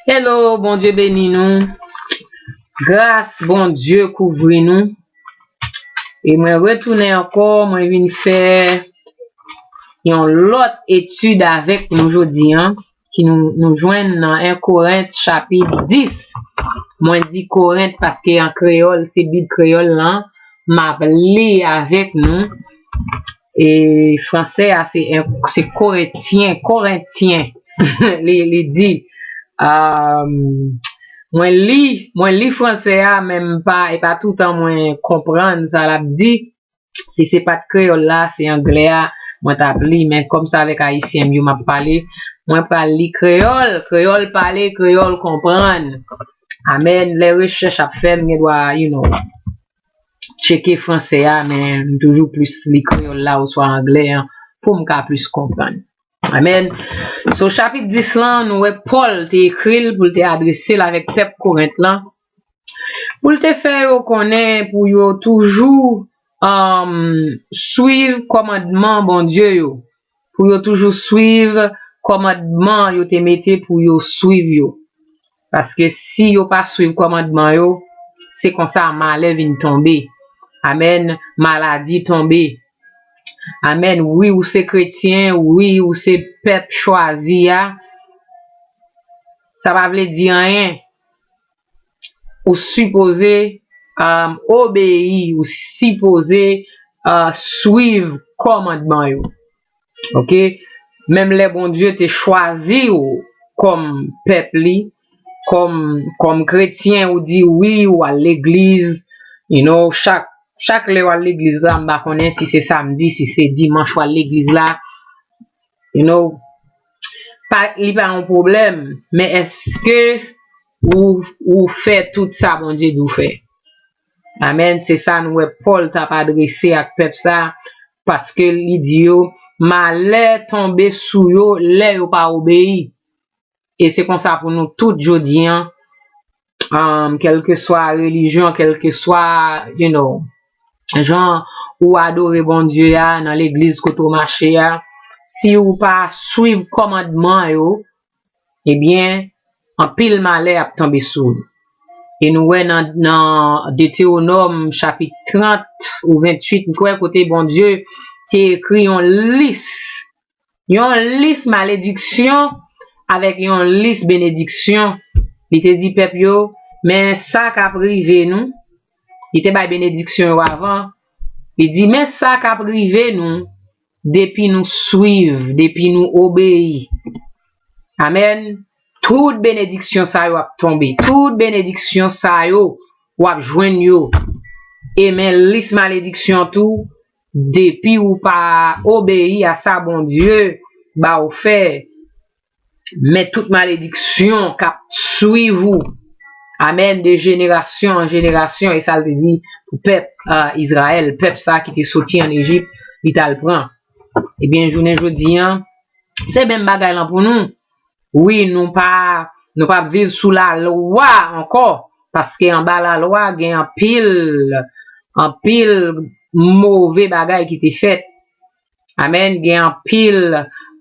Hello bondye beni nou gras bondye kouvri nou e mwen retounen ankò mwen vin fè yon lòt etid avèk nou jodi an ki nou jwenn nan 1 korent chapit 10 mwen di korent paske an kreyòl se bib kreyòl lan map li avèk nou E fransè a se se koretyen, korentyen li di Mwen li, mwen li fransè a men m pa, e pa toutan mwen konprann sa l ap di. Si se pa t kreyòl la, se anglè a mwen t ap li men kòm se avèk ayisyen m yo m ap pale, mwen pral li kreyòl, kreyòl pale, kreyòl konprann. Amèn, lè rechèch ap fè m gen dwa you know. tcheke franse a men m toujou plis li kreyòl la oswa angle an pou m ka plis konprann. Amèn. So chapit 10 lan nou wè Pòl te ekri l pou l te adrese l avèk pèp Korent lan pou l te fè yo konnen pou yo toujou swiv kòmandman Bondye yo, pou yo toujou swiv kòmandman yo te mete pou yo swiv yo. Paske si yo pa swiv kòmandman yo, se konsa malè vin tonbe. Amen maladi tonbe. Amen wi ou se kretyen wi ou se pèp chwazi a sa pa vle di anyen ou sipoze obeyi ou sipoze swiv kòmandman yo. Ok menm lè Bondye te chwazi ou kòm pèp li kòm kòm kretyen ou di wi ou al legliz you know chak chak lèw al legliz la m pa konnen si se samdi si se dimanch wal legliz la you know pa li pa yon pwoblèm men èske ou ou fè tout sa Bondye di w fè. Amen se sa nou wè Paul tap adrese ak pèp sa paske li di yo malè tonbe sou yo lè yo pa obeyi e se konsa pou nou tout jodi an kèlkeswa relijyon kèlkeswa you know jan ou adore Bondye a nan legliz kote ou mache a si ou pa swiv kòmandman yo ebyen anpil malè ap tonbe sou ou. E nou wè nan nan Deteonòm chapit 30 ou 28 m kwè kote Bondye te ekri yon lis, yon lis malediksyon avèk yon lis benediksyon, li te di pèp yo, men sa k ap rive nou, li te bay benediksyon yo avan, li di men sa k ap rive nou, depi nou swiv, depi nou obeyi. Amen! Tout benediksyon sa yo ap tonbe, tout benediksyon sa yo wap jwenn yo, e men lis malediksyon tou depi ou pa obeyi a sa Bondye ba ou fè, Men tout malediksyon k ap swiv ou, amèn, de jenerasyon an jenerasyon, e sa l te di pou pèp Izrayèl, pèp sa a ki te soti ann Ejip, li t al pran. Ebyen, jounen jodi a, se menm bagay lan pou nou. Wi, nou pa ap viv sou lalwa ankò, paske anba lalwa gen anpil, anpil move bagay ki te fèt. Amen gen anpil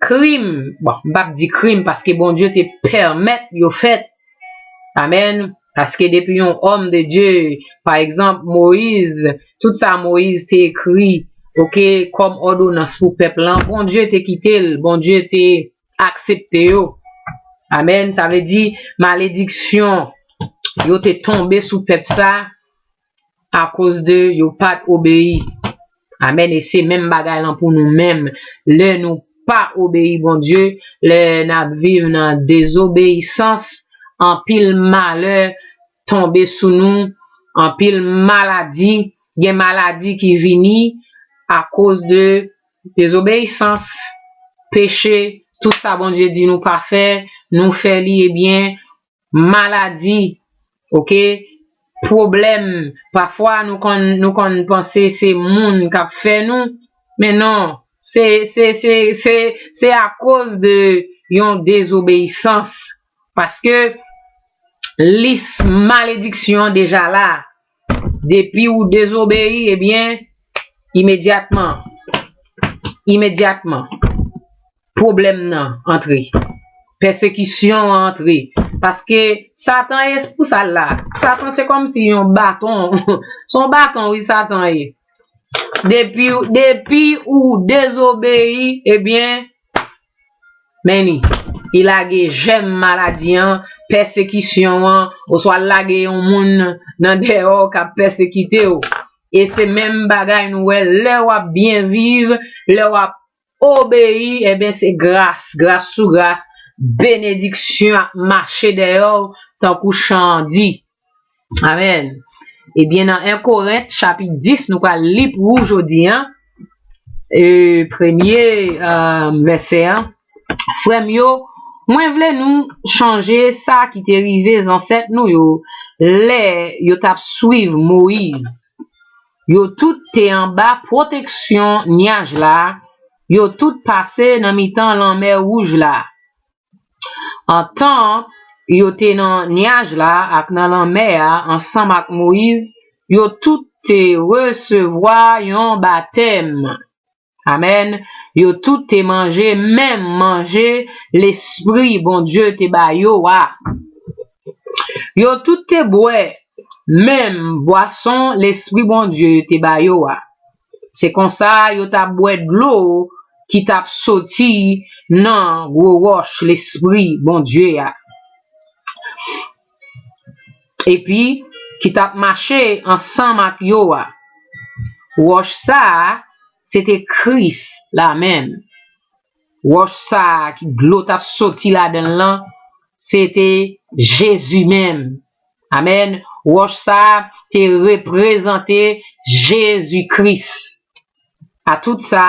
krim bon m pap di krim paske Bondye te pèmèt yo fèt amen paske depi yon òm de Dye pa egzanp moyiz tout sa moyiz te ekri ok kòm òdonans pou pèp lan Bondye te kite l Bondye te aksepte yo amen sa vle di malediksyon yo te tonbe sou pèp sa. akoz de yo pat obeyi amen e se menm bagay lan pou nou menm lè nou pa obeyi Bondye lè nap viv nan dezobeyisans anpil malè tonbe sou nou anpil maladi gen maladi ki vini akoz de dezobeyisans peche tout sa Bondye di nou pa fè nou fè li ebyen maladi ok pwoblèm pafwa nou konn nou konn panse se moun kap fè nou men non se se se se se akoz de yon dezobeyisans paske lis malediksyon deja la Depi ou dezobeyi, ebyen, imedyatman, imedyatman, pwoblèm nan antre. Pèsekisyon an antre. Paske, Satan e, se pou sa l la. Satan se kòmsi yon baton. Se yon baton, wi, Satan ye. Depi ou dezobeyi, ebyen, Men li, li lage jèm maladi an, pèsekisyon an, oswa l lage yon moun nan deyò k ap pèsekite w. E se menm bagay nou wè lè w ap byen viv, lè w ap obeyi, enben se gras, gras sou gras, benediksyon ap mache deyò w tankou chan an di. Amen Ebyen nan 1 Korent chapit 10 nou pral li pou ou jodi an e premye vèsè an, Frè m yo, mwen vle nou chonje sa ki te rive zansèt nou yo lè yo t ap swiv Moyiz. Yo tout te anba pwoteksyon nyaj la, yo tout pase nan mitan lanmè wouj la. Antan yo te nan nyaj la ak nan lanmè a ansanm ak Moyiz, yo tout te resevwa yon batèm. Amèn. Yo tout te manje menm manje Lespri Bondye te ba yo a. Yo tout te bwè menm bwason Lespri Bondye te ba yo a. Se konsa yo t ap bwè dlo ki t ap soti nan gwo wòch lespri Bondye a epi ki t ap mache ansanm ak yo a. Wòch sa a se te Kris la menm. Wòch sa a ki dlo t ap soti ladan l lan se te Jezi menm. Amen Wòch sa a te reprezante Jezi Kris. Atout sa,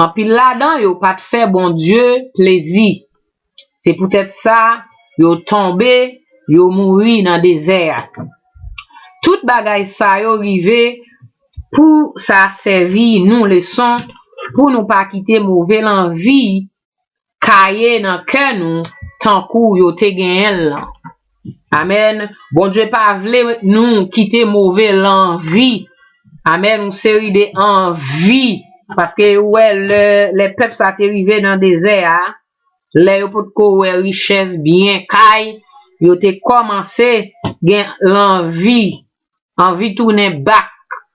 anpil ladan yo pa t fè Bondye plezi. Se poutèt sa, yo tonbe, yo mouri nan dezè a. Tout bagay sa yo rive pou sa sèvi nou leson pou nou pa kite move lanvi Kaye nan kè nou tankou yo te genyen l lan. Amen Bondye pa vle nou kite move lanvi amen yon seri de anvi paske ou wè lè lè pèp sa te rive nan dezè a lè yo pot ko wè richès byen kay yo te kòmanse gen lanvi anvi tounen back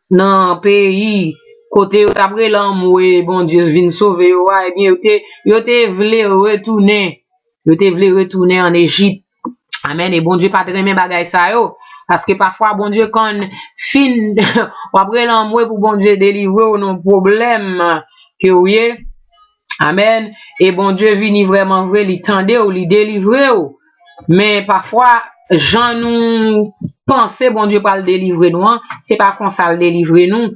nan peyi kote yo tap rele anmwe Bondye vin sove yo a ebyen yo te yo te vle retounen yo te vle retounen an Ejip amen e Bondye pat renmen bagay sa yo paske pafwa Bondye konn fin wap rele anmwe pou Bondye delivrew nan pwoblèm ke ou ye Amen e Bondye vini vreman vre li tandew li delivrew men pafwa jan nou panse Bondye pral delivre nou an se pa konsal delivre nou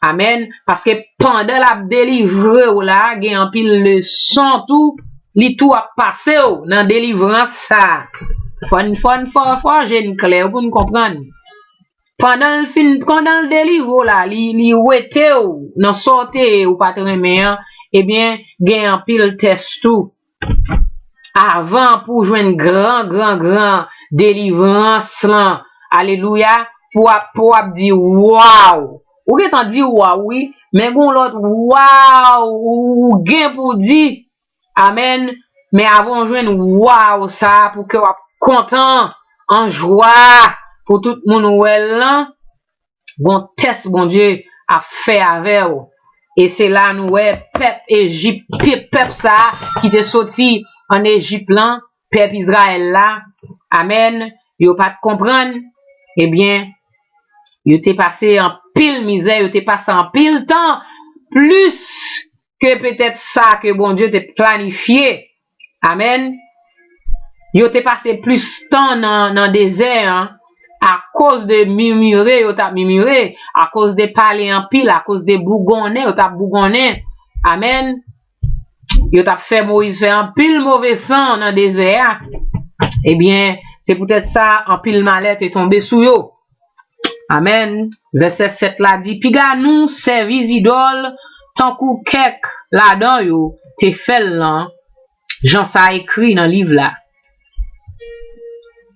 amen paske pandan lap delivrew la gen anpil leson tou li tou ap pasew nan delivrans sa fòn fòn fò fò je n klè poun konprann. Pandan l fin pandan l delivre w la li li wete w nan sa w te ye ou pa t renmen an ebyen gen anpil tès tou avan pou w jwenn gran gran gran delivrans lan alelouya pou w ap pou w ap di waww ou gentan di waww wi men gen w lòt waww ou gen pou w di Amen men avan ou jwenn waww sa pou kèw ap kontan an jwa pou tout moun wèl lan gon tès Bondye ap fè avèw e se la nou wè pèp ejip pèp sa ki te soti an ejip lan pèp izrayèl la amen yo pat konprann ebyen yo te pase anpil mizè yo te pase anpil tan plis ke petèt sa ke Bondye te planifye, amen, yo te pase plis tan nan dezè an akoz de mimire yo t ap mimire, akoz de pale anpil, akoz de bougonnen yo t ap bougonnen, amen, yo t ap fè Moyiz fè anpil move san nan dezè a, ebyen, se poutèt sa anpil malè te tonbe sou yo. Amen. Vèsè 7 la di, Piga nou sèvi zidòl tankou kèk ladan yo te fè l lan, jan sa ekri nan liv la.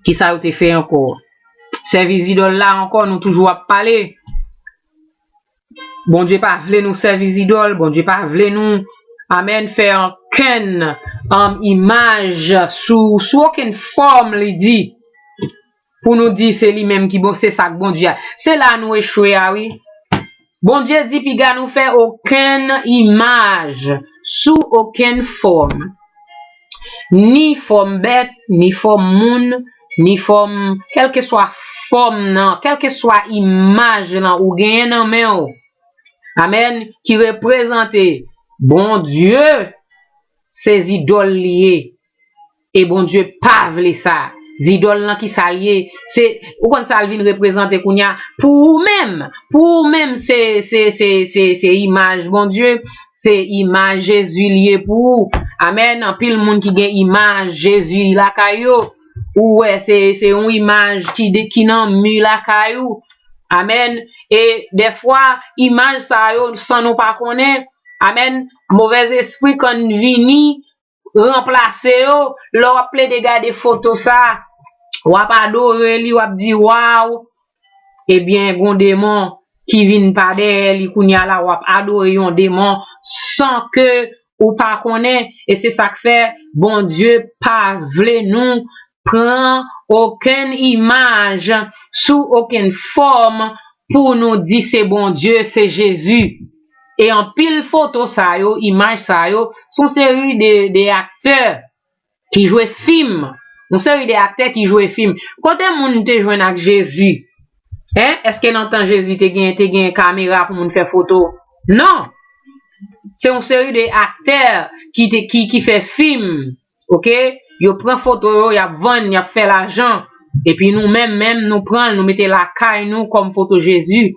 Kisa yo te fè ankò? Sèvi zidòl la ankò nou toujou ap pale. Bondye pa vle nou sèvi zidòl, Bondye pa vle nou, amen, fè okenn imaj sou okenn fòm, li di. pou nou di se li menm ki bon se sak Bondye a se la nou echwe a wi Bondye di piga nou fè okenn imaj sou okenn fòm ni fòm bèt ni fòm moun ni fòm kèlkeswa fòm nan kèlkeswa imaj lan ou genyen nan men ou amen ki reprezante Bondye se zidòl li ye E Bondye pa vle sa. Zidòl lan ki sa l ye? Se, ou konn sa l vin reprezante kounye a? Pou ou menm, pou ou menm se, se, se, se, se imaj Bondye, se imaj Jezi l ye pou ou. Amèn! Anpil moun ki gen imaj Jezi lakay yo, ou wè se, se yon imaj ki de, ki nan mi lakay ou. Amèn! E, dèfwa, imaj sa yo, san nou pa konnen, amèn, movèzespri konn vini, ranplase yo, lè wap plede gade foto sa, wap adore li, wap di waw, ebyen gon demon ki vin pa dèyè li kounya la, wap adore yon demon san ke ou pa konnen, e se sak fè Bondye pa vle nou pran okenn imaj sou okenn fòm pou nou di se Bondye, se Jezi. E anpil foto sa yo, imaj sa yo, se yon seri de aktè ki jwe fim, yon seri de aktè ki jwe fim. Kote moun te jwenn ak Jezi? Èske nan tan Jezi te gen kamera pou moun fè foto? Non! Se yon seri de aktè ki fè fim, ok yo pran foto yo yap vann yap fè lajan epi nou menm menm nou pranl nou mete lakay nou kòm foto jezi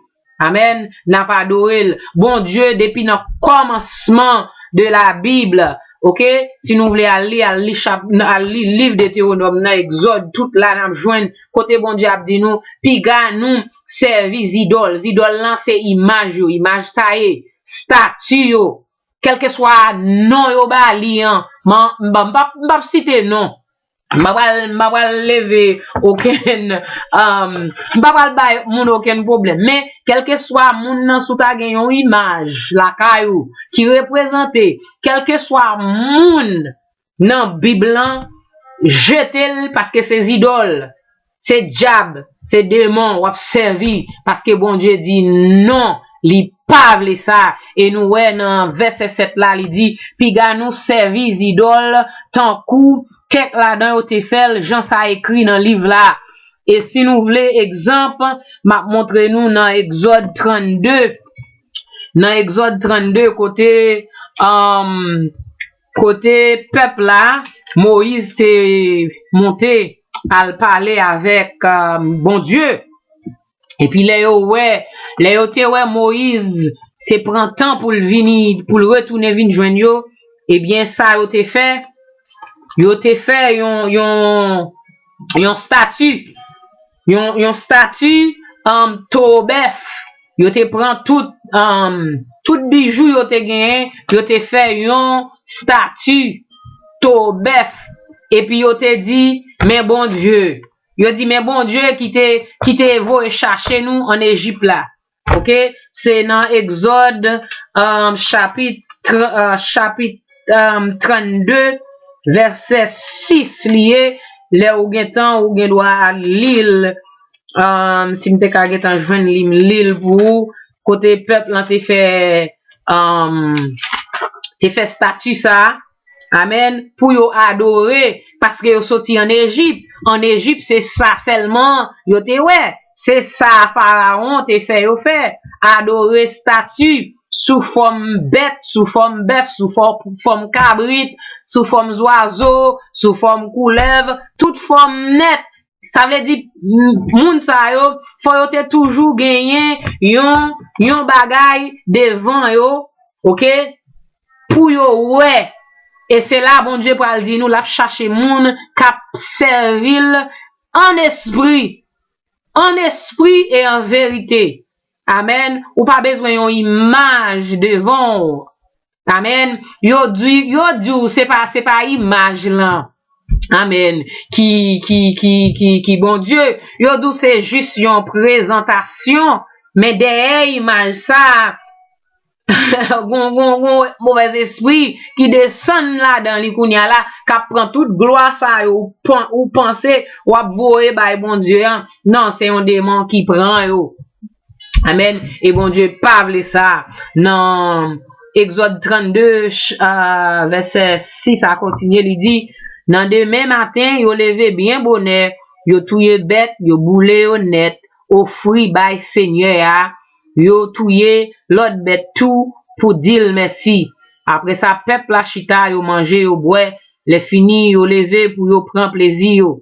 amen nap adorel bondye depi nan kòmansman de la bible ok si nou vle al li al li chap al li liv deteronòm nan egzòd tout la nap jwenn kote bondye ap di nou piga nou sèvi zidòl zidòl lan se imaj yo imaj taye stati yo Kèlkeswa non yo ba li an, m p ap site non, m pa pral leve okenn, m pa pral bay moun okenn pwoblèm, men kèlkeswa moun nan si w ta gen yon imaj lakay ou ki reprezante kèlkeswa moun nan bib lan jetel paske se zidòl se djab se demon wap sèvi paske Bondye di non li pa vle sa e nou wè nan vèsè 7 la li di piga nou sèvi zidòl tankou kèk ladan yo te fèl jan sa ekri nan liv la e si nou vle egzanp map montre nou nan egzòd 32 nan egzòd 32 kote amm. Kote pèp la, Moyiz te monte al pale avèk Bondye. Epi lè yo wè, lè yo te wè Moyiz te pran tan pou l vini, pou l retounen vin jwenn yo, ebyen sa yo te fè, yo te fè yon, yon, yon stati. Yon stati towo bèf. Yo te pran tout bijou yo te genyen, yo te fè yon stati towo bèf. Epi yo te di, Men Bondye. Yo di, Men Bondye ki te voye chache nou ann Ejip la. ok se nan exod chapit 32 vèsè 6 liye lè ou gentan ou gen dwa al lil sim te ka gentan jwenn li m lil pou ou kote pèp lan te fè te fè stati sa. Amen pou yo adore paske yo soti an Ejip an Ejip se sa sèlman yo te wè se sa farawon te fè yo fè adore stati sou fòm bèt sou fòm bèf sou fòm kabrit sou fòm zwazo sou fòm koulèv tout fòm nèt Sa vle di moun sa yo fò yo te toujou genyen yon yon bagay devan yo ok pou yo wè e se la Bondye pral di nou l ap chache moun k ap sèvi l ann espri ann espri e an verite amèn ou pa bezwen yon imaj devan w Amen yo di yo di w se pa se pa imaj lan amen ki ki ki ki ki Bondye yo di w se jis yon prezantasyon men dèyè imaj sa gon gon gon movèzespri ki desann ladan li kounya la k ap pran tout glwa sa yo ou pan ou panse w ap voye bay Bondye an nan se yon demon ki pran yo. Amen e Bondye pa vle sa nan Exode 32 vese 6 a kontinye li di nan demen maten yo leve byen bonè yo touye bèt yo boule yo nèt ofri bay Senyè a yo touye lòt bèt tou pou dil mèsi apre sa pèp la chita yo manje yo bwè lèfini yo leve pou yo pran plezi yo.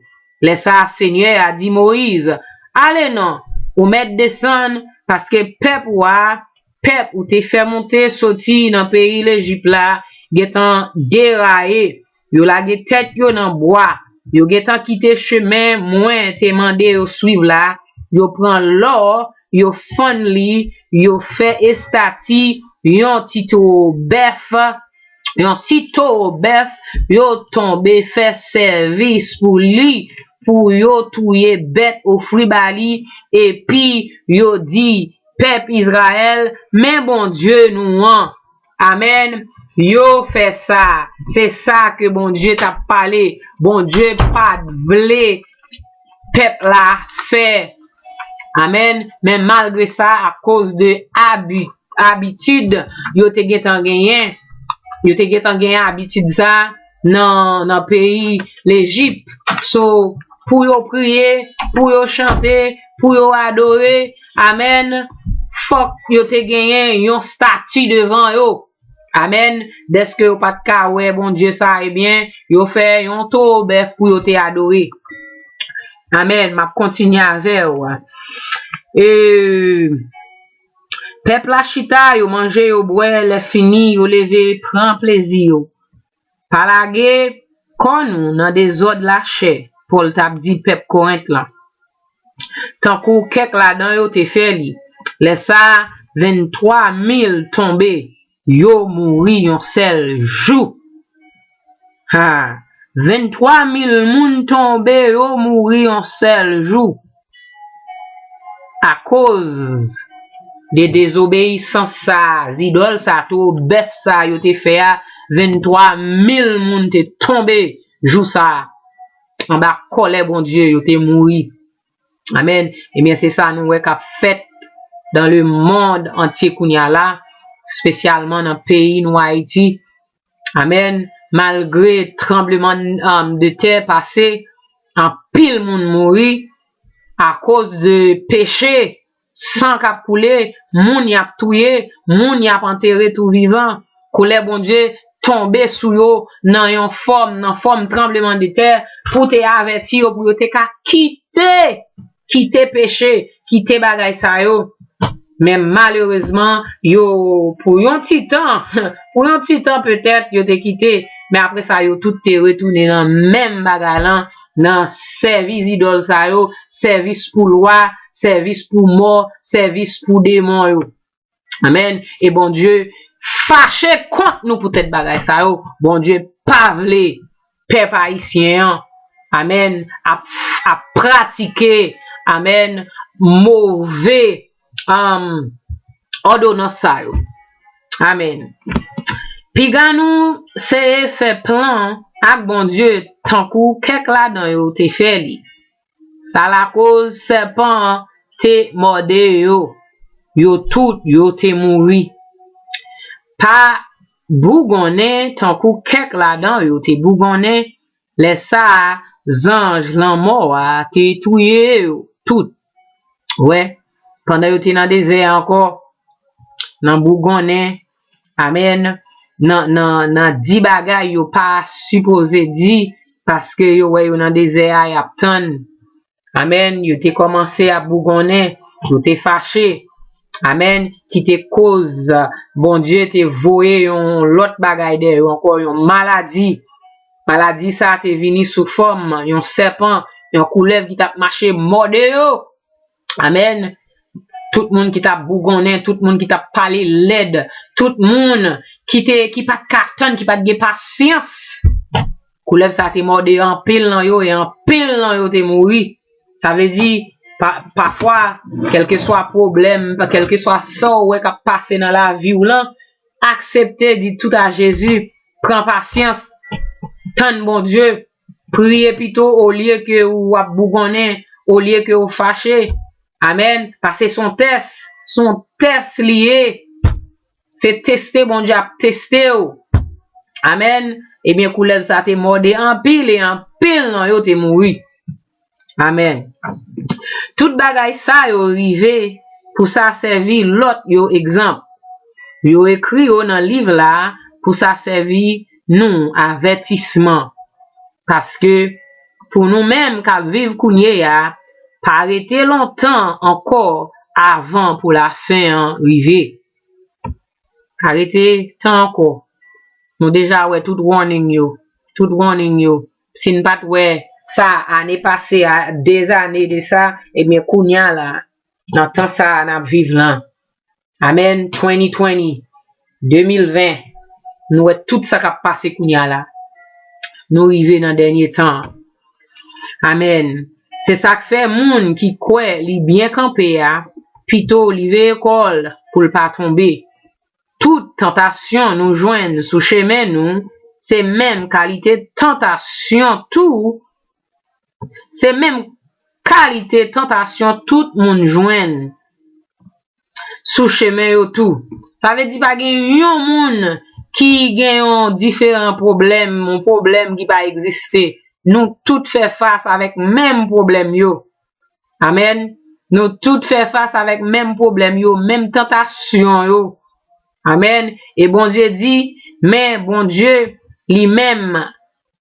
Lè sa a, Senyè a di Moyiz, Ale non, ou mèt desann, paske pèp ou a, pèp ou te fè monte soti nan peyi Lejip la, gentan deraye, yo lage tèt yo nan bwa, yo gentan kite chemen Mwen te mande yo suiv la, yo pran lò yo fann li, yo fè estati yon ti towo bèf, yon ti towo bèf, yo tonbe fè sèvis pou li, pou yo touye bèt ofri ba li, epi yo di pèp Izrayèl, Men Bondye nou an! Amen yo fè sa se sa ke Bondye tap pale Bondye pat vle pèp la fè Amen men malgre sa akoz de abi abitid yo te gentan genyen yo te gentan genyen abitid sa. nan peyi lejip so pou yo priye pou yo chante pou yo adore amen fòk yo te genyen yon stati devan yo amen dèske yo pat ka wè Bondye sa ebyen yo fè yon towo bèf pou yo te adore amen map kontinye avèw eeee pèp la chita yo manje yo bwè lèfini yo leve pran plezi yo Pa lage kò nou nan dezòd lachè, Pòl t ap di pèp Korent lan, tankou kèk ladan yo te fè li. Lè sa a, venntwa mil tonbe, yo mouri yon sèl jou. Ha! Venntwa mil moun tonbe, yo mouri yon sèl jou! akoz de dezobeyisans sa a, zidòl sa a, towo bèf sa a yo te fè a, 23 mil moun te tonbe jou sa a, anba kòlè Bondye, yo te mouri. Amèn. Ebyen, se sa nou wè k ap fèt dan lemonn antye kounye a la, espesyalman nan peyi nou Ayiti, Amen malgre tranbleman de tè pase anpil moun mouri akoz de peche san kap koule moun yap touye moun yap antere tou vivan kolè Bondye tonbe sou yo nan yon fòm nan fòm tranbleman de tè pou te avèti yo pou yo te ka kite kite peche, kite bagay sa yo, men malerezman yo pou yon ti tan, pou yon ti tan petèt yo te kite, men apre sa yo tout te retounen nan menm bagay lan, nan sèvi zidòl sa yo, sèvis pou lwa, sèvis pou mò, sèvis pou demon yo. Amen e Bondye fache kont nou pou tèt bagay sa yo Bondye pa vle pèp ayisyen an amen ap pratike amen move amm òdonans sa yo amen piga nou seye fè plan ak Bondye tankou kèk ladan yo te fè li. Sa lakoz sèpan an te mòde yo, yo tout yo te mouri. Pa bougonnen tankou kèk ladan yo te bougonnen, lè sa a zanj lanmò a te touye yo tout. Wè, pandan yo te nan dezè a ankò, nan bougonnen Amen nan nan nan di bagay yo pa sipoze di paske yo wè yo nan dezè a yap tann Amen yo te kòmanse ap bougonnen yo te fache Amen ki te koz Bondye te voye yon lòt bagay dè yo ankò yon maladi maladi sa te vini sou fòm yon sèpan yon koulèv ki tap mache mòde yo Amen tout moun ki tap bougonnen tout moun ki tap pale lèd tout moun ki te ki pat ka tann ki pat gen pasyans koulèv sa te mòde anpil nan yo e anpil nan yo te mouri sa vle di pa pafwa kèlkeswa pwoblèm kèlkeswa sa ou wè kap pase nan laviw lan aksepte di tout a Jezi pran pasyans tann Bondye Priye pito olye ke ou ap bougonnen, olye ke ou fache. Amen. Pase son tès. Son tès li ye. Se teste Bondye ap teste ou. Amen. Ebyen koulèv sa te mòde anpil e anpil nan yo te mouri. Amen. Tout bagay sa yo rive pou sa sèvi lòt yo egzanp. Yo ekri yo nan liv la pou sa sèvi nou avètisman. Paske pou nou menm k'ap viv kounye a, pa rete lontan ankò avan pou lafen an rive. Pa rete tan ankò. Nou deja wè tout warning yo, tout warning yo. Si n pa t wè sa ane pase a, de ane de sa, ebyen kounya la, nan tan sa a n ap viv lan, amèn, 2020, 2020, nou wè tout sa k ap pase kounya la. Nou rive nan dènye tan an. Amèn. Se sa k fè moun ki kwè li byen kanpe a, pito li veye kò l pou l pa tonbe. Tout tantasyon nou jwenn sou chemen nou se menm kalite tantasyon tou se menm kalite tantasyon tout moun jwenn sou chemen yo tou sa vle di pa gen yon moun ki gen yon diferan pwoblèm yon pwoblèm ki pa egziste nou tout fè fas avèk menm pwoblèm yo Amen. Nou tout fè fas avèk menm pwoblèm yo, menm tantasyon yo. Amen. E Bondye di, men Bondye li menm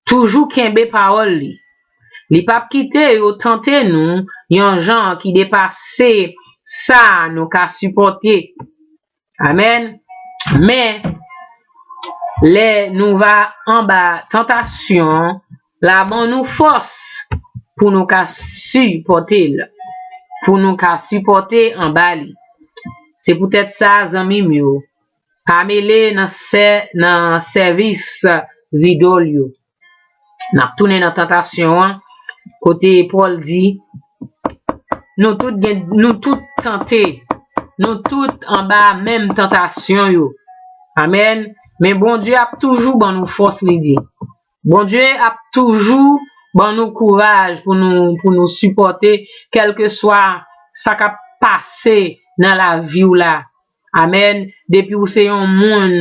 toujou kenbe pawòl li. Li pap kite yo tante nou yon jan ki depase sa nou ka sipòte. Amen. Men, lè nou va anba tantasyon, la ban nou fòs pou nou ka sipòte l, pou nou ka sipòte anba li. Se poutèt sa, zanmi m yo, pa mele nan sèvis zidòl yo. Nap tounen nan tantasyon an, kote Pòl di, Nou tout gen, nou tout tante, nou tout anba menm tantasyon yo. Amèn. Men Bondye ap toujou ban nou fòs, li di. Bondye ap toujou ban nou kouraj pou nou, pou nou sipòte kèlkeswa sa kap pase nan lavi w la. Amen depi ou se yon moun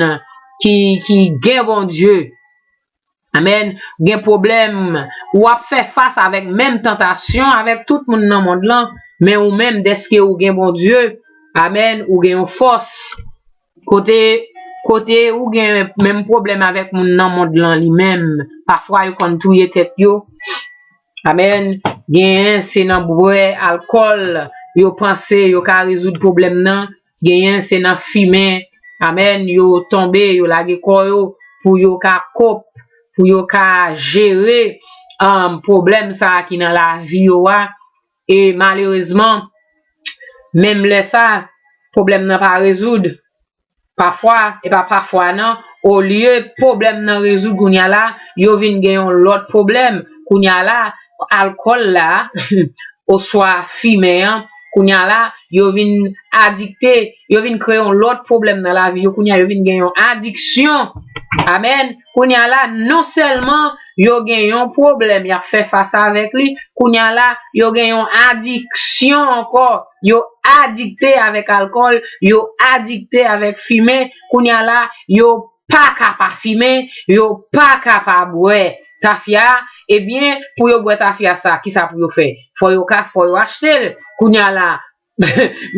ki ki gen Bondye Amen gen pwoblèm ou ap fè fas avèk menm tantasyon avèk tout moun nan mond lan men ou menm dèske ou gen Bondye Amen ou gen yon fòs kote kote ou gen menm pwoblèm avèk moun nan mond lan li menm pafwa yo konn touye tèt yo. Amen genyen se nan bwè alkòl yo panse yo ka rezoud pwoblèm nan genyen se nan fimen amen yo tonbe yo lage kò yo pou yo ka kop pou yo ka jere pwoblèm sa ki nan lavi yo a E malerezman, menm lè sa, pwoblèm nan pa rezoud. Pafwa, e pa pafwa nan, olye pwoblèm nan rezoud kounye a la, yo vin gen yon lòt pwoblèm. Kounye a la, alkòl la, oswa fimen an, kounye a la, yo vin adikte, yo vin kreye yon lòt pwoblèm nan lavi yo. Kounye a, yo vin gen yon adiksyon. Amèn! Kounye a la, non sèlman yo gen yon pwoblèm y ap fè fas avèk li, kounye a la, yo gen yon adiksyon ankò, yo adikte avèk alkòl, yo adikte avèk fimen, kounye a la, yo pa ka pa fimen, yo pa ka pa bwè tafya, ebyen, pou yo bwè tafya sa, kisa pou yo fè? Fò yo ka, fò yo achte l, kounye a la,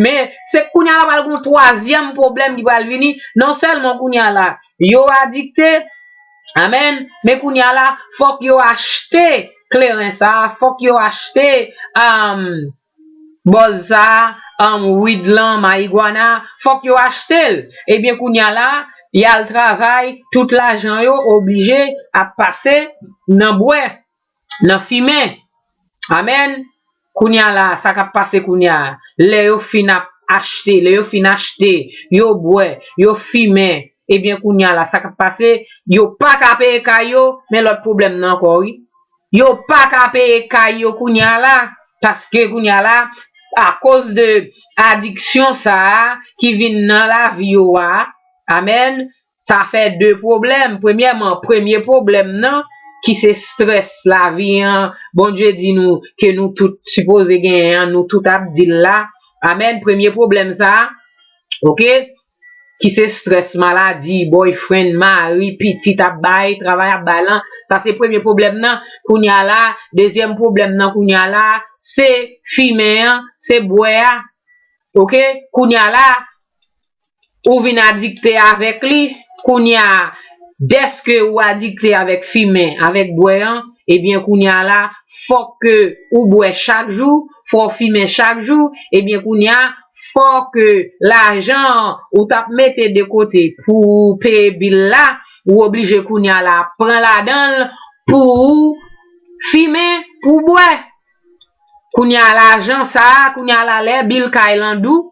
Men, se kounye a la pral gen yon twazyèm pwoblèm ki pral vini, non sèlman kounye a la, yo adikte, amèn, men kounye a la, fòk yo achte kleren sa a, fòk yo achte bòz sa a, wid lan, mayigwana, fòk yo achte l. Ebyen, kounye a la, y al travay, tout lajan yo oblije ap pase nan bwè. Nan fimen! Amen! Kounya la a, sa kap pase kounya a, lè yo fin ap achte, lè yo fin achte, yo bwè, yo fimen, ebyen kounya la sa kap pase, yo pa ka peye kay yo, men lòt pwoblèm nan ankò wi. Yo pa ka peye kay yo kounya la, paske kounya la, akoz de adiksyon sa a ki vin nan lavi yo a, amen, Sa fè de pwoblèm, premyèman premye pwoblèm nan ki se strès lavi an Bondye di nou ke nou tout sipoze genyen an nou tout ap di l la amèn premye pwoblèm sa ok ki se strès maladi boyfriend mari pitit ap bay travay ap bay lan sa se premye pwoblèm nan kounya la dezyèm pwoblèm nan kounya la se fimen an se bwè a ok kounya la. ou vin adikte avèk li, kounye a dèske ou adikte avèk fimen, avèk bwè an, ebyen kounye a la fò ke ou bwè chak jou, fò ou fimen chak jou, ebyen kounye a fò ke lajan an ou t ap mete de kote pou ou peye bil la, ou oblije kounye a la pran ladan l pou ou fimen, pou ou bwè. Kounye a lajan sa a, kounye a la lè bil kay lan dou,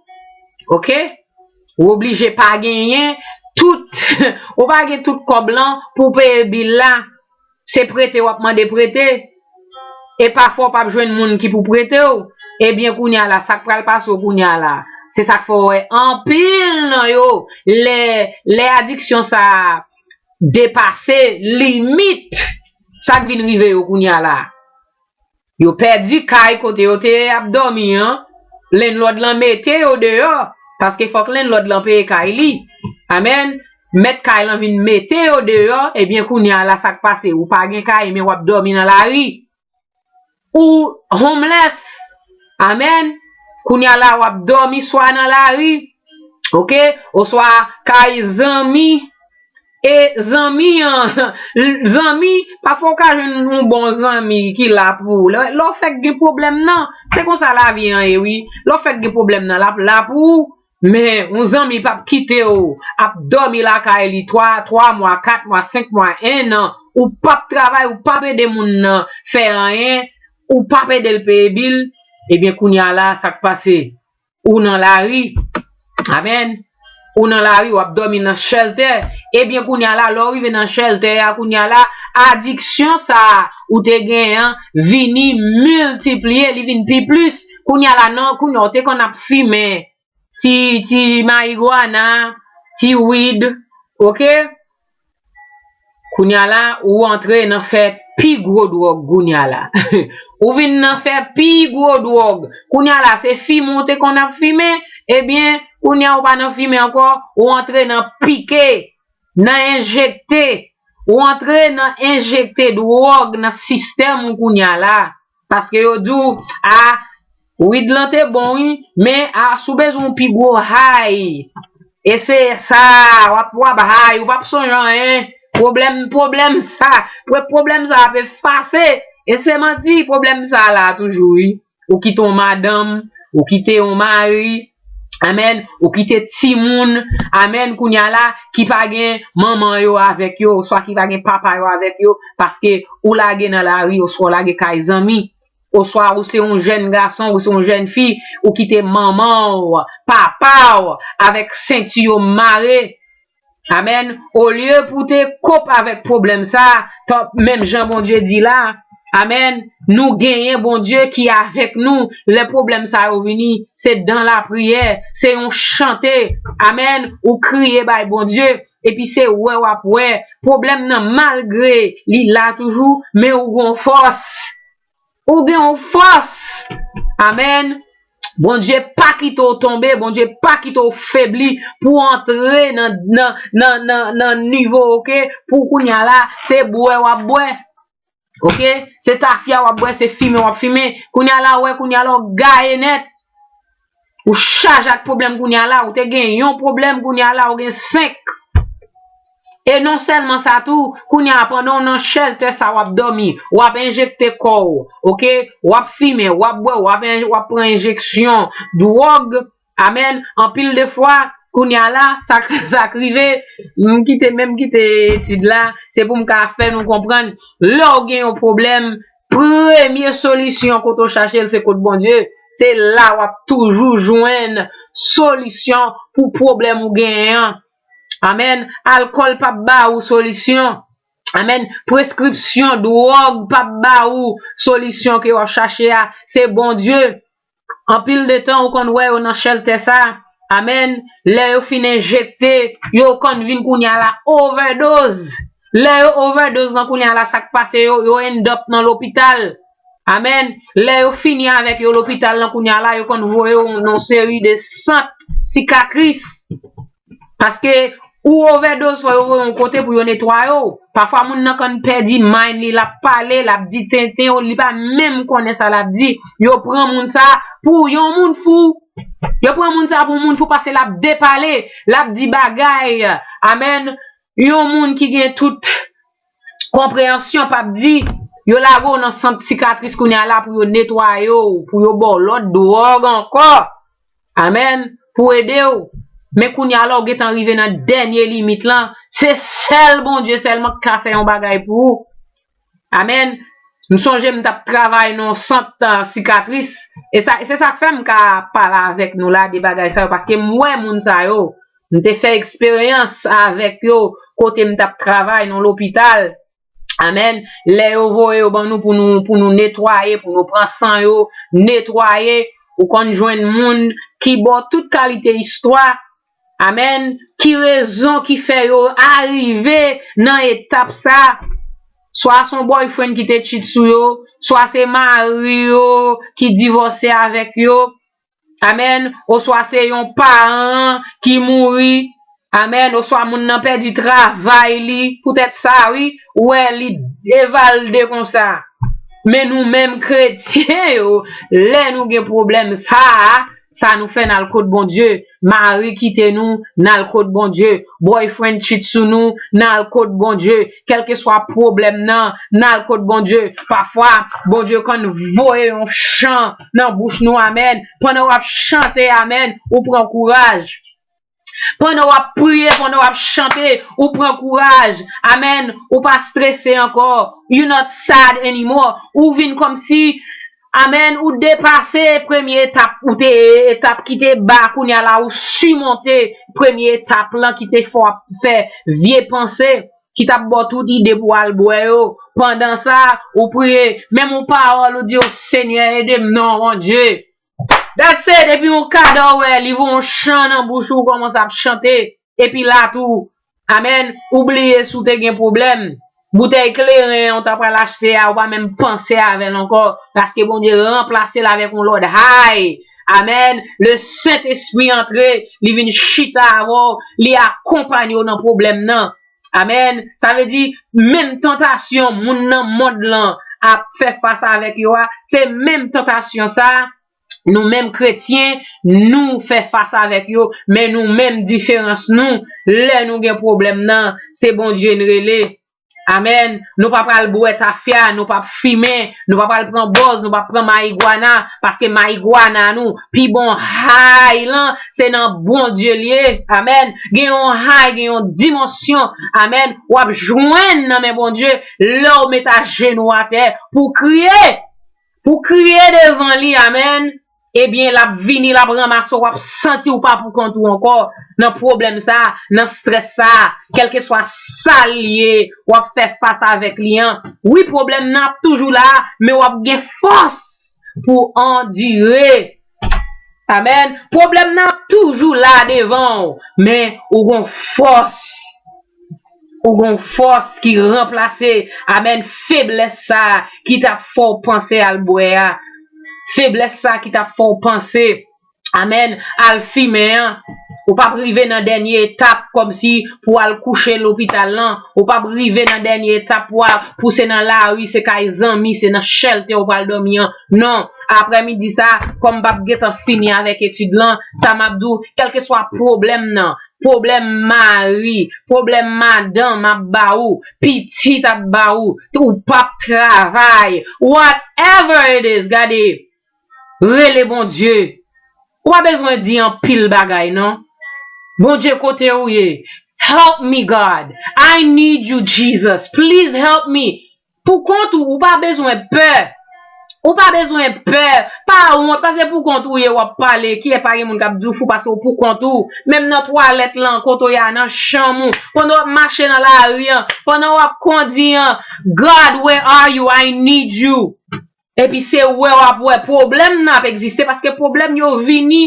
ok, ou oblije pa genyen tout, ou pa gen tout kòb lan pou w peye bil la, se prete w ap mande prete, e pafwa w p ap jwenn moun ki pou prete w, ebyen kounye a la sa k pral pase w kounye a la, se sa k fè w wè anpil nan yo lè, lè adiksyon sa a depase limit, sa k vin rive yo kounye a la. Yo pèdi kay kote yo te ap dòmi an, lennlòd lan mete yo deyò, paske fòk lennlòd lan peye kay li. Amen! Mèt kay lan vin mete yo deyò, ebyen kounye a la sa k pase? Ou pa gen kay men w ap dòmi nan lari. Ou homeless. Amen! Kounye a la w ap dòmi swa nan lari, oke, oswa kay zanmi. E zanmi an, zanmi, pafwa ou ka jwenn yon bon zanmi ki la pou ou. Lè w fèk gen pwoblèm nan, se konsa lavi an ye wi. Lè w fèk gen pwoblèm nan, l ap la pou ou. Men, yon zanmi p ap kite w ap dòmi lakay li twa, twa mwa, kat mwa, senk mwa, ennan, ou p ap travay, ou p ap ede moun nan fè anyen, ou p ap ede l peye bil, ebyen kounye a la, sa k pase? ou nan lari. Amen. Ou nan lari, wap dòmi nan chèltè. Ebyen kounya la, lè ou rive nan chèltè a kounya la, adiksyon sa a ou te gen an vini miltipliye, li vin pi plis. Kounya la nan, kounya ou te konn ap fimen ti ti mayigwana, ti wid, ok. Kounya la ou antre nan fè pi gwo dwòg kounya la ou vin nan fè pi gwo dwòg kounya la se fimen ou te konn ap fimen ebyen kounya ou pa nan fimen ankò ou antre nan pike nan enjekte ou antre nan enjekte dwòg nan sistèm ou kounya la. Paske yo di w ah Wid lan te bon wi men ah si w bezwen yon pi gwo high eseye sa wap wap high ou pap sonje anyen pwoblèm pwoblèm sa pou pwoblèm sa ap efase e se manti pwoblèm sa la toujou wi ou kite yon madanm ou kite yon mari Amen ou kite timoun amen kounya la ki pa gen manman yo avèk yo oswa ki pa gen papa yo avèk yo paske ou lage nan lari oswa ou lage kay zanmi oswa ou se yon jèn gason ou se yon jèn fi ou kite manman ou papa ou avèk senti yo mare Amen olye pou te kop avèk problèm sa tanp menm jan Bondye di la amen nou genyen Bondye ki avèk nou lè problèm sa yo vini se dan la priyè se yon chante amen ou kriye bay Bondye epi se wè wap wè problèm nan malgre li la toujou men ou gon fòs. Ou gen yon fòs! Amen! Bondye pa kite w tonbe, Bondye pa kite w febli pou antre nan nivo ok pou kounya la se bwè wap bwè ok se tafya wap bwè se fimen wap fimen kounya la wè kounya la w gaye nèt Ou chaje ak pwoblèm kounye a la, ou te gen yon pwoblèm kounye a la ou gen 5. E non sèlman sa tou, kounye a pandan w nan chèltè sa w ap dòmi, w ap enjekte kò w, ok, w ap fimen, w ap bwè, w ap pran enjeksyon dwòg, amèn, anpil de fwa, kounye a la, sa k rive, m kite menm kite etid la, se pou m ka fè nou konprann, lè w gen yon pwoblèm. Premye solisyon kote w chache l se kot Bondye, se la w ap toujou jwenn solisyon pou pwoblèm ou genyen an. Amen. Alkòl p ap ba ou solisyon. Amen. Preskripsyon dwòg p ap ba ou solisyon ke w ap chache a. Se Bondye Anpil de tan ou konn wè yo nan chèltè sa a men lè yo fin enjekte yo ou konn vin kounye a la ovèdoz lè yo ovèdoz lan kounye a la sak pase yo yo endòp nan lopital a men lè yo fini avèk yo lopital lan kounye a la yo konn voye yo nan yon seri de sant sikatris. Paske ou ovèdoz fò yo voye yon kote pou yo netwaye w. Pafwa moun nan kan pèdi mind li lap pale lap di tenten yo li pa menm konnen sa lap di yo pran moun sa pou yon moun fou yo pran moun sa pou moun fou pase lap depale lap di bagay amen yon moun ki gen tout konpreyansyon pa p di, yo lage w nan sant sikatris kounye a la pou yo netwaye w, pou yo ba w lòt dwòg ankò, amen, pou ede w, men kounye a la ou gen tan rive nan dènye limit lan, se sèl Bondye sèlman ki ka fè yon bagay pou ou, amen, m sonje m t ap travay nan yon sant sikatris, e se sa k fè m ka pale avèk nou la de bagay sa yo, paske m wè moun sa yo, M te fè eksperyans avèk yo kote m t ap travay nan lopital. Amen. Lè yo voye yo ban nou pou nou netwaye, pou nou pran san yo, netwaye, ou konn jwenn moun ki ba w tout kalite istwa. Amen. Ki rezon ki fè yo arive nan etap sa a? Swa se yon boyfriend ki te cheat sou yo, swa se mari yo ki divòse avèk yo. Amen oswa se yon paran an ki mouri Amen oswa moun nan pèdi travay li poutèt sa wi ou wè li devalde konsa men nou menm kretyen yo lè nou gen pwoblèm sa a sa nou fè n al kot Bondye mari kite nou n al kot Bondye boyfriend chit sou nou n al kot Bondye kèlkeswa pwoblèm nan n al kot Bondye pafwa Bondye konn voye yon chan nan bouch nou amen pandan wap chante amen ou pran kouraj pandan wap priye pandan wap chante ou pran kouraj amen ou pa strese ankò you not sad anymore ou vin kòmsi amen ou depase premye etap ou te ye etap ki te ba kounya la ou simonte premye etap lan ki te fè wap fè vye panse. ki tap baw tout ide pou al bwè yo pandan sa ou priye menm yon pawòl ou di o senyè edem non Bondye that's it epi yon kada ou wè livo yon chan nan bouch ou ou kòmanse ap chante epi la tou amen ou bliye si w te gen pwoblèm boutèy kleren an ou ta pral achte a ou pa menm panse avèl ankò paske Bondye ranplasel avèk yon lòt high Amen le sent espri antre li vin chita avè w li akonpanye w nan pwoblèm nan amen sa vle di menm tantasyon moun nan mond lan ap fè fas avèk yo a se menm tantasyon sa nou menm kretyen nou fè fas avèk yo men nou menm diferans nou lè nou gen pwoblèm nan se Bondye n rele. Amen nou pa pral bwè tafya nou pap fimen nou pa pral pran bòz nou pap pran mayigwana paske mayigwana nou pi bon high lan se nan Bondye li ye amen gen yon high gen yon dimansyon amen wap jwenn nan men Bondye lèw met ajenou atè pou kriye pou kriye devan li amen. Ebyen lap vini lap ranmase w wap santi w pa pou kont ou ankò nan pwoblèm sa nan strès sa kèlkeswa sal ye wap fè fas avèk li an wi pwoblèm nan ap toujou la men wap gen fòs pou w andire amèn pwoblèm nan ap toujou la devan w men ou gon fòs. Ou gon fòs ki ranplase amen feblès sa ki tap fèw panse al bwè a feblès sa ki tap fèw panse amen al fimen an ou pap rive nan dènye etap kòmsi pou al kouche lopital lan ou pap rive nan dènye etap pou al pou se nan lari se kay zanmi se nan chèlte ou pral dòmi an non aprè midi sa kòm m pap gentan fini avèk etid lan sa map diw kèlkeswa pwoblèm nan Pwoblèm mari, pwoblèm madanm ap ba ou, pitit ap ba ou, ou p ap travay, what ever it is gade rele Bondye ou pa bezwen di anpil bagay non Bondye kote ou ye help me God I need you Jesus please help me Pou kont ou, ou pa bezwen pè. Ou pa bezwen pè, pa wont pase pou kont ou ye wap pale kilè pa gen moun kap diw fou pase ou pou kont ou, menm nan twalèt lan, kote ou ye a, nan chanm ou, pandan wap mache nan lari an, pandan wap kondi an, God where are you, I need you. Epi se wè wap wè pwoblèm nan ap egziste paske pwoblèm yo vini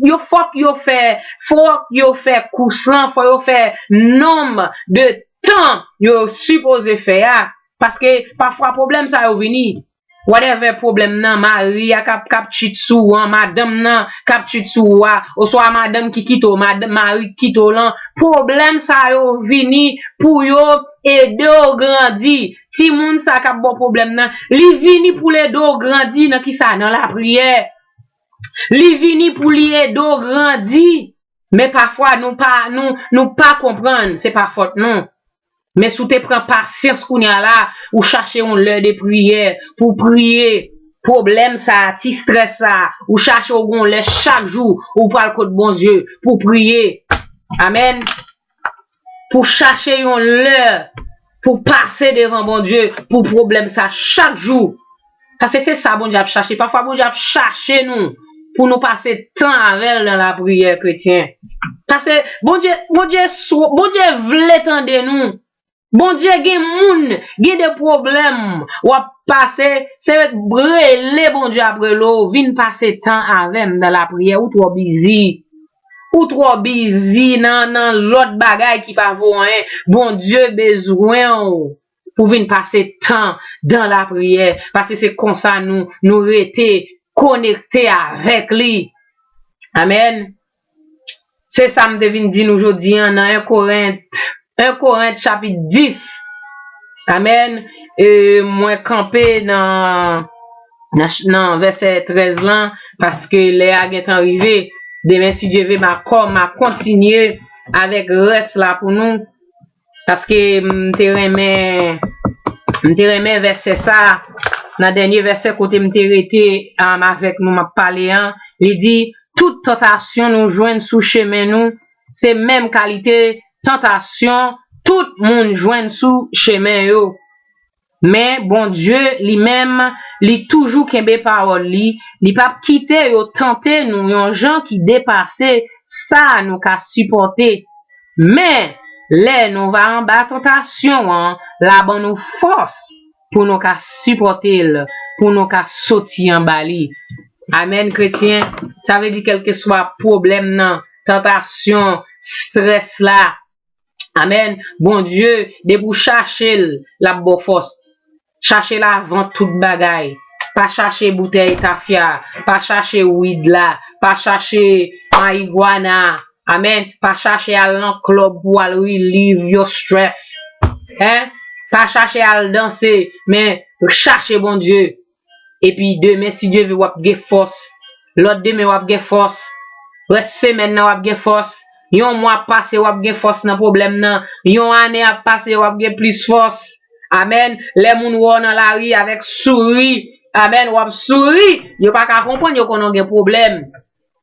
yo fòk yo fè fòk yo fè kous lan fò yo fè nonm de tan yo sipoze fè a paske pafwa pwoblèm sa yo vini whatever pwoblèm nan mari a kap kap tchit sou ou an madanm nan kap tchit sou ou a oswa madanm ki kite w madanm mari ki kite w lan pwoblèm sa yo vini pou yo ede w grandi. Timoun sa kap baw pwoblèm nan li vini poul ede w grandi nan kisa nan lapriyè li vini pou li ede w grandi men pafwa nou pa nou nou pa konprann se pa fòt nou men si w te pran pasyans kounya la ou chache yon lè de priyè pou w priye pwoblèm sa ti strès sa ou chache w gon lè chak jou ou pral kot Bondye pou w priye amèn. pou chache yon lè pou pase devan Bondye pou pwoblèm sa chak jou. Paske se sa Bondye ap chache. Pafwa Bondye ap chache nou pou nou pase tan avè l nan lapriyè kretyen. Pase Bondye Bondye sou Bondye vle tande nou. Bondye gen moun gen de pwoblèm w ap pase se rele Bondye ap rele w vin pase tan avè m nan lapriyè ou twò bizi. Ou trò bizi nan nan lòt bagay ki pa vo anyen. Bondye bezwen w pou vin pase tan dan lapriyè, paske se konsa nou nou rete konekte avèk li. Amèn. Se sa m te vin di nou jodi an nan 1 Korent 1 Korent chapit 10 Amen e mwen kanpe nan nan vèsè 13 lan paske lè a gentan rive demen si Dye ve ma kò ma kontinye avèk rès la pou nou paske m te renmen m te renmen vèsè sa nan dènye vèsè kote m te rete avèk nou m ap pale an li di tout tantasyon nou jwenn sou chemen nou se menm kalite tantasyon tout moun jwenn sou chemen yo. Men Bondye li menm li toujou kenbe pawòl li, li pap kite yo tante nou yon jan ki depase sa nou ka sipòte. Men, lè nou va anba tantasyon an, la ban nou fòs. pou nou ka sipòte l pou nou ka soti anba li amèn kretyen sa vle di kèlkeswa pwoblèm nan tantasyon strès la amèn Bondye depi ou chache l lap baw fòs chache l avan tout bagay pa chache boutèy tafya pa chache wid la pa chache mayigwana. Amen pa chache al nan club pou al relieve your stress hein pa chache al danse men chache Bondye epi demen si Dye vle wap gen fòs lòt demen wap gen fòs rès semèn nan wap gen fòs yon mwa ap pase wap gen fòs nan problèm nan yon ane ap pase wap gen plis fòs amen lè moun wè w nan lari avèk souri amen wap souri yo paka konprann yo konnen w gen problèm.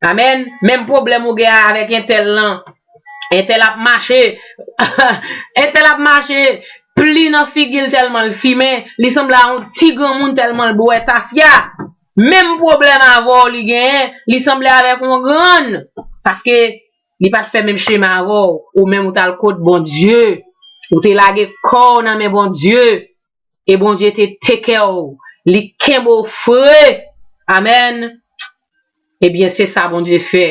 Amen menm problem ou gen avek entel lan entel ap mache entel ap mache pli nan figil telmanl fimen li sanble a yon ti granmoun telmanl bwe tafya menm problem avèw li genyen li sanble avek yon grann paske li pat fè menm chemen avèw ou menm ou tal kot Bondye ou te lage kow nan men Bondye. e Bondye te tekew li kenbe w fre amen ebyen se sa Bondye fè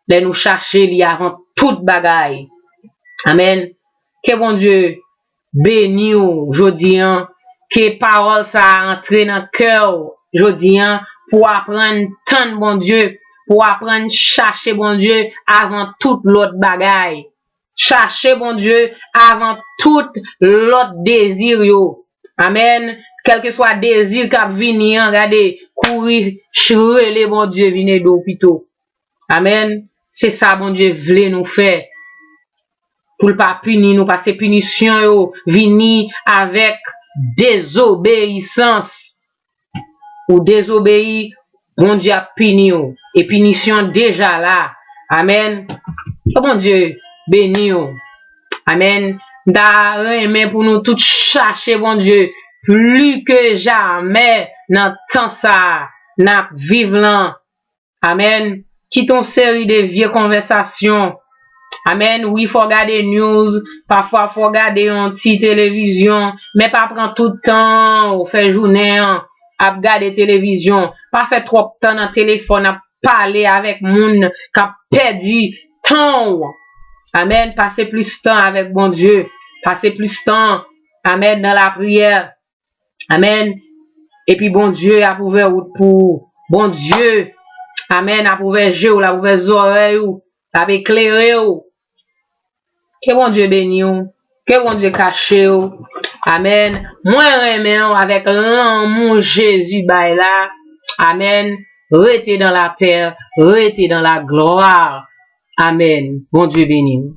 lè nou chache li avan tout bagay amen ke Bondye beni w jodi an ke pawol sa antre nan kè w jodi an pou w aprann tann Bondye pou w aprann chache Bondye avan tout lot bagay Chache Bondye avan tout lòt dezi yo. Amen Kèlkeswa dezi k ap vini an gade kouri rele Bondye vin ede w pito. Amen Se sa Bondye vle nou fè pou l pa pini nou pase pinisyon yo vini avèk dezobeyisans. ou dezobeyi Bondye ap pini w e pinisyon deja la amen ke Bondye beni w amen m ta renmen pou nou tout chache Bondye pli ke jamè nan tan sa nap viv lan Amen kite yon seri de vye konvèsasyon Amen wi fò gade news pafwa fò gade yon ti televizyon men pa pran tout tanw fè jounen an ap gade televizyon pa fè twòp tan nan telefòn ap pale avèk moun kap pèdi tanw Amen pase plis tan avèk Bondye pase plis tan Amen nan lapriyè Amen Epi Bondye ap ouvè wout pou ou. Bondye Amen ap ouvè je ou, l ap ouvè zòrèy ou, l ap eklere ou. Ke Bondye beni ou. Ke Bondye kache ou. Amen Mwen renmen ou avèk lanmou Jezi bay la. Amen Rete dan lapè, rete dan laglwa. Amen Bondye beni ou.